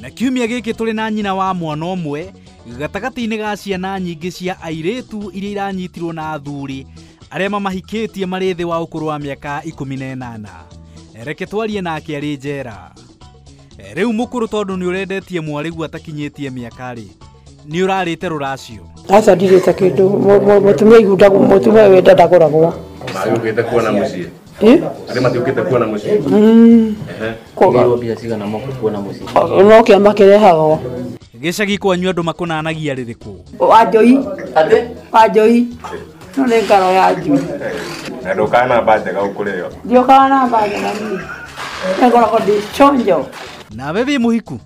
na kiumia gĩkĩ tũrĩ na nyina wa mwana ũmwe gatagatĩ-inĩ ga ciana nyingĩ cia airĩtu iria iranyitirwo na athuri arĩa mamahikĩtie marĩ thĩ wa ũkũrũ wa mĩaka ikũmi na ĩnana reke twarie nake arĩ njera rĩu mũkũrũ tondũ nĩ ũrendetie mwarĩgu atakinyĩtie mĩaka-rĩ nĩ ũrarĩte rũracio aca ndirĩte kĩndũ Mũ- mũ- mũtumia igundagwo mũtumia wenda ndagũragwo Magĩũkĩte kuona mũciĩ. Eh? Arĩ matiũkĩte kuona mũciĩ. Mm. Ehe. Kũgĩrwo mbia cigana moka kuona mũciĩ. O- No kĩama kĩrehagwo. gĩcagi kwanyu andũ makunanagia rĩrĩkũ Wanjoi. Wanjoi. No nĩ ngaro ya njui. Na ndũkana mba njega ũkũrĩo. Ndiokaga na mbaga na niĩ. Nĩngoragwo ndĩ chonjo. nawe wĩ mũhiku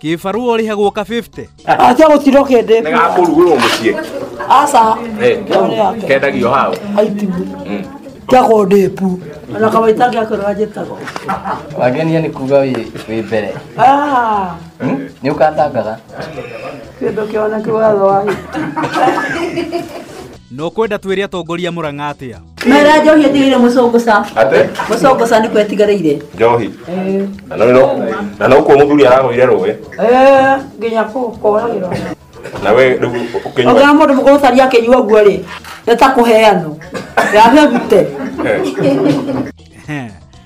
Kĩbarũa ũrĩhagwo ka 50. Acha gũtirwo kĩndĩ. Nĩ gakũrugũrwo mũciĩ. Aca. Eh, Kendagio hau. Aitibu. Kĩa kũndĩpu. Ona kawaita gĩa kũrora njĩtagwo. Wangenia nĩ kuga wĩ wĩ mbere. Ah. Nĩ ũkandangaga. Kĩndũ kĩoneke watho wa no kwenda twĩre atongoria mũrang'a atĩa mera njohi ĩtigĩire mũcũngũca Ate? mũcũngũca nĩkuo ĩtigarĩire Njohi. Na no no. Na no kuo muthuri aragwire rũwe. Eh, nginya kũhũkũragĩra Na we rĩu ũkĩnyua. ogira mũndũ mũkũrũ tari akĩnyua ũguo rĩ nĩ ta kũheanwo yame gute Ehe.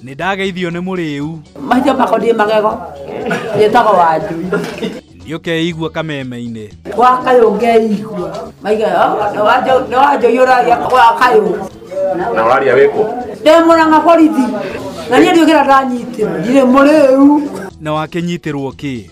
Nĩ ndageithio nĩ mũrĩu. Maitho makonie magego. Njĩtagwo wanju. Nĩ ũkeigua kameme-inĩ. Wa kayũ ngeigua. Maiga nĩ wanjũiyũra wa kayũ. Na waria wĩkũ? Ndĩ mũrang'a borithi. Na niĩ ndiũkĩra ndanyitĩrwo. Ndirĩ mũrĩu. Na wakĩnyitĩrwo kĩ?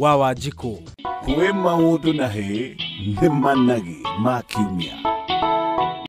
wa wanjikũ kwĩ maũndũ na hĩ nĩ managi ma kiumia